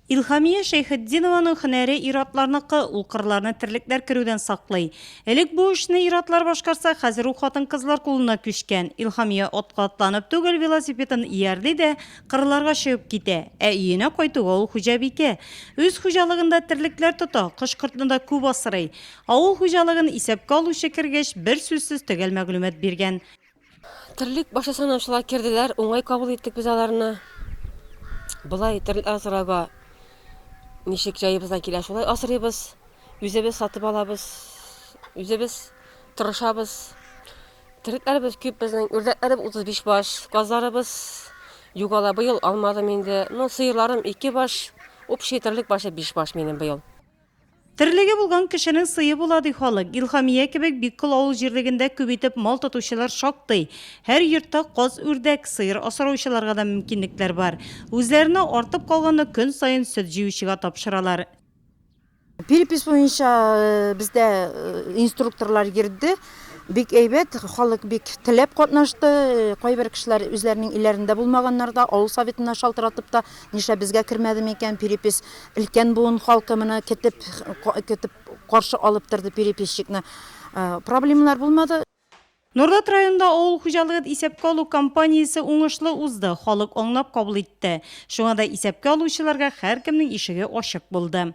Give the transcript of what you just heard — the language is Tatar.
Илһамия Шәйхетдинованың һөнәре ир-атларныкы, ул кырларны терлекләр керүдән саклый. Элек бу эшне ир-атлар башкарса, хәзер ул хатын-кызлар кулына күчкән. Илһамия атка атланып түгел, велосипедын иярли дә, кырларга чыгып китә. Ә өенә кайтуга ул хуҗабикә. Үз хуҗалыгында терлекләр тота, кош-кортны да күп асрый. Авыл хуҗалыгын исәпкә алучы кергәч, берсүзсез төгәл мәгълүмат биргән. Терлек башы санаучылар керделәр, уңай кабул иттек без аларны. Болай терлек асырауга ничек җаебыздан килә шулай асырыйбыз. Үзебез сатып алабыз, үзебез тырышабыз. Терлекләребез күп безнең, үрдәкләребез 35 баш, казларыбыз югала быел алмадым инде. Ну, сыерларым ике баш, общий терлек башы 5 баш минем быел. Терлеге булган кешенең сые була, ди халык. Илһамия кебек бик кол авыл җирлегендә күп итеп мал тотучылар шактый. Һәр йортта каз-үрдәк, сыер асраучыларга да мөмкинлекләр бар. Үзләренә артып калганны көн саен сөт җыючыга тапшыралар. Перепись буенча бездә инструкторлар йөрде. Бик әйбәт, халык бик теләп катнашты. Кайбер кешеләр үзләренең өйләрендә булмаганнар да, авыл Советына шалтыратып та Нишләп безгә кермәде микән перепись? Өлкән буын халкы моны көтеп, көтеп каршы алып торды переписчикны. Проблемалар булмады. Норлат районында авыл хуҗалыгын исәпкә алу кампаниясе уңышлы узды, халык аңлап кабул итте. Шуңа да исәпкә алучыларга һәркемнең ишеге ачык булды.